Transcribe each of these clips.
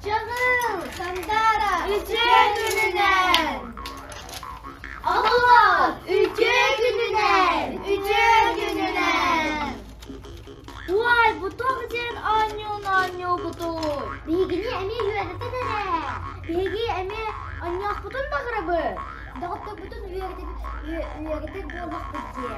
Чагыл, Сандара, Үчүгэй күнүнэн! Олуот, Үчүгэй күнүнэн! Үчүгэй күнүнэн! Уай, бутуох диэн оонньуу-оонньуубутун! Биһигини эмиэ үөрэтэн эрэ! Биһиги эмиэ оонньоохпутун баҕарабыт! Доҕотторбутун үөрэтэр буоллахпыт дии!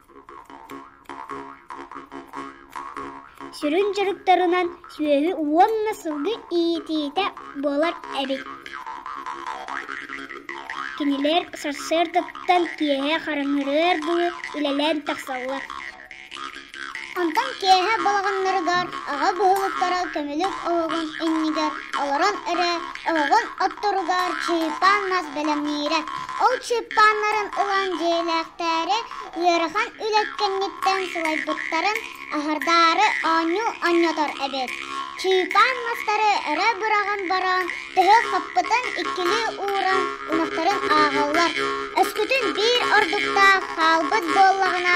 Сүрүн дьарыктарынан сүөһү уонна сылгы иитиитэ буолар эбит. Кинилэр сарсыардаттан киэһэ хараҥарыар дуу үлэлээн тахсаллар. Онтон киэһэ балаҕаннарыгар, аҕа быһылыктара көмүлүк оһоҕун иннигэр олорон эрэ Оҕоҕун отторугар чыыппан мас бэлэмниирэ. Ол чыыппаннарын ылан дьиэлээхтээри ыарахан үлэ кэнниттэн сылайбыттарын аһардаары оонньуу онньотор эбит. Чыыппан мастары өрө быраҕан баран төһө хаппытын иккилии ууран ынахтарын ааҕаллар. Өскөтүн биир ордуктаах хаалбыт буоллаҕына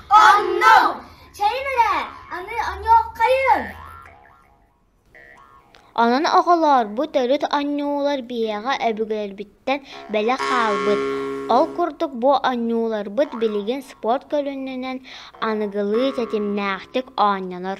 Онно чэйин эрэ аны онньуоххайын Онон оҕолоор бу төрүт оонньуулар биһиэхэ өбүгэлэрбиттэн бэлэх хаалбыт. Ол курдук бу оонньууларбыт билигин спорт көрүнүнэн аныгылыы ситимнээхтик оонньонор.